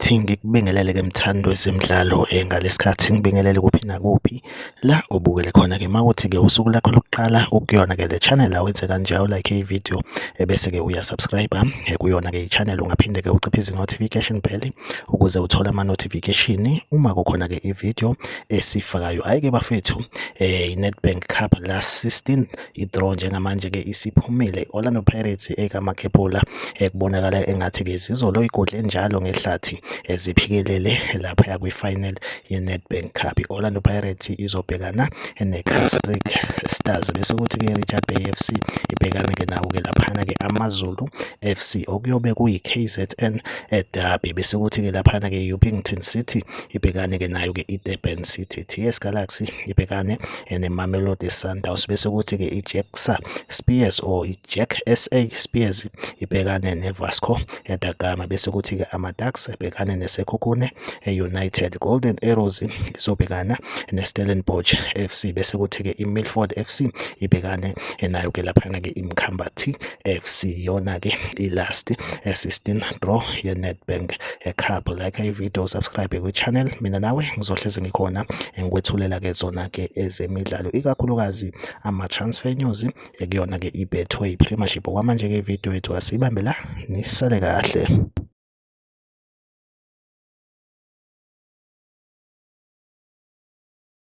ukuthi ngikubingelele ke mthando wezemidlalo eh, ngalesikhathi ngibingelele kuphi nakuphi la ubukele khona ke mawuthi ke usuku lakho lokuqala ukuyona ke le channel awenze kanjalo like i video ebese eh, ke uya subscribe ah, eh, kuyona ke i channel ungaphinde ke uciphe izi notification bell ukuze uthole ama notification uma kukhona ke i video esifakayo hayi ke bafethu eh iNedbank Cup last 16 idraw njengamanje ke isiphumile iOrlando Pirates ekaMakhephula ekubonakala engathi ke zizolo igodle njalo ngehlathi eziphikelele lapha yakwi final yeNedbank Cup iOrlando Pirates izobhekana neCasric Stars bese kuthi ke Richard Bay FC ibhekane ke nawo ke laphana ke AmaZulu FC okuyobe kuyiKZN eh, derby bese kuthi ke laphana ke uPington City ibhekane-ke nayo-ke i-durban city ts galaxy ibhekane eh, nemamelodi sundowns bese kuthi-ke i-jacksa spears or i-jack sa spears ibhekane nevasco da gama bese kuthi-ke ama-dax ebhekane nesekhukhune e-united eh, golden arrows izobhekana ne-stellenbosch f c bese kuthi-ke i-milford f c ibhekane eh, nayo-ke laphana-ke imkhambathi FC yona ke ilast assistant eh, draw ye Nedbank eh, Cup like i video subscribe kwi channel mina nawe ngizohleze ngikhona ngikwethulela ke zona ke ezemidlalo ikakhulukazi ama transfer news eh, kuyona ke iBetway Premiership kwamanje ke video yethu asibambe la nisale kahle